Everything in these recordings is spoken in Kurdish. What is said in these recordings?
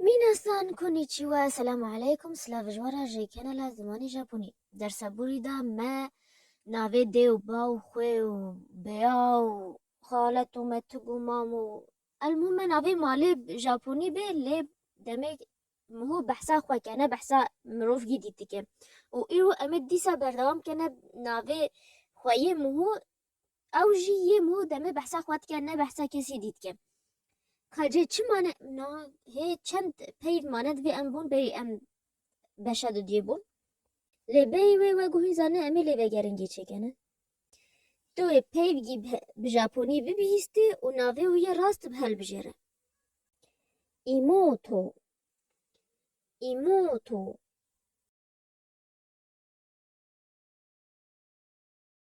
Minasan Konnichiwa Selamu Aleykum Silav ji we re ji kanala Zimanê Japonî Dersa borî de me navê dê û baw û xwê û bêya û xalet û metig û mam û elmû me navê malê Japonî bê lê demê miho behsa xwe kene behsa mirovgî dîtike û îro em ê dîsa berdewam kene navê xwe yê miho Ew jî yê mû demê behsa xwe dike ne behsa kesî dî dike. Ka cê çi mane na hê çend peyv mane divê em bûn bêyî em beşa dudiyê bûn. Lê bêyî wê we guhî zane em ê lê vegeringî çêkene. Tu ê peyvgî bi japonî bibihîstî û navê wî yê rast bi helbijêre. Îmoto. Îmoto.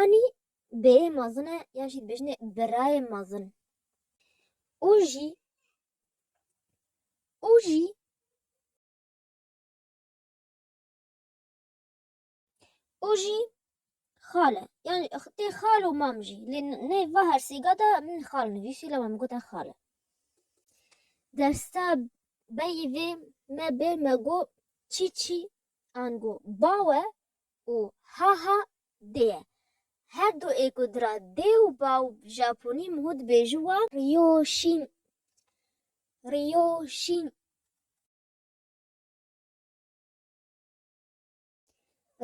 Anî bêyê mezin e yan jî dibêjinê birayê mezin. Û jî û jî û jî xale yan tê xal û mam jî lê nê va her sêga de min xal nivîsî lê min gote xale. Dersa beyî vê me bê me got çî çî an got bawe û ha ha dê ye. Her du ê ku dira dê û baw bi japonî mû dibêjin wa. Riyo şîn Riyo şîn.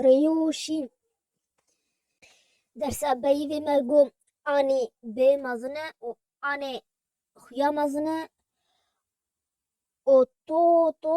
Riyo şîn. Dersa beyîvê me gom anî bê mezin e û anê xuya mezin e û to to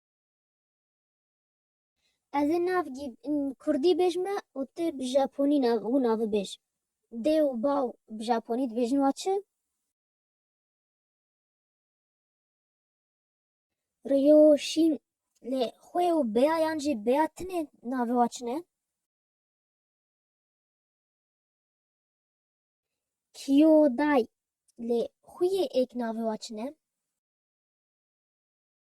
Ez ê navgî kurdî bêjme û tu bi japonî wî navê bêj. Dê û baw bi japonî dibêjin wa çi? Ryo şîn lê xwê û beya yan jî beya tinê navê wa çi ne? Kiyo day lê xwîyê êk navê wa çi ne?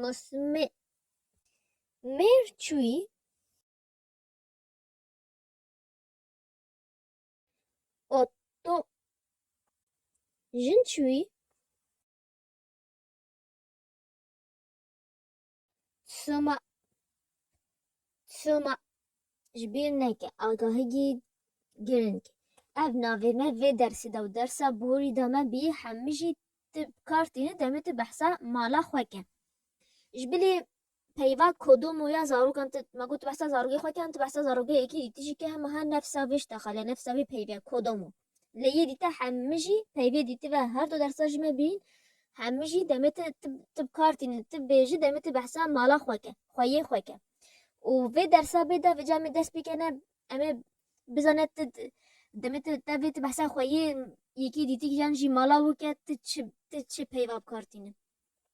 Masime mêr çûyî oto jin çûyî soma soma Ji bîr neke agahigî girîng e. Ev navê me vê dersê de û dersa borî de me bî hemijî tu bi kar tîne demê tu behsa mala xwe ke. Ji bilî peyva kodomo ya zarokan tu ma got tu behsa zarokê xwe ke yan tu behsa zarokê yekî dî tu jî ke hema her nefsa vê ji te xeliya nefsa vê peyvê kodomo. Lê yê dîte hemî jî peyvê dîtive her du dersa ji me bîn, hemî jî demê te tib tib kar tînin, tib bê jî demê te behsa mala xwe ke, xweyê xwe ke. Û vê dersa bê de vê camê dest pê kene em ê bizane ti demê te te vê ti behsa xweyê yekê dîtîk yan jî mala wû ke ti çi ti çi peyva bi kar tînin.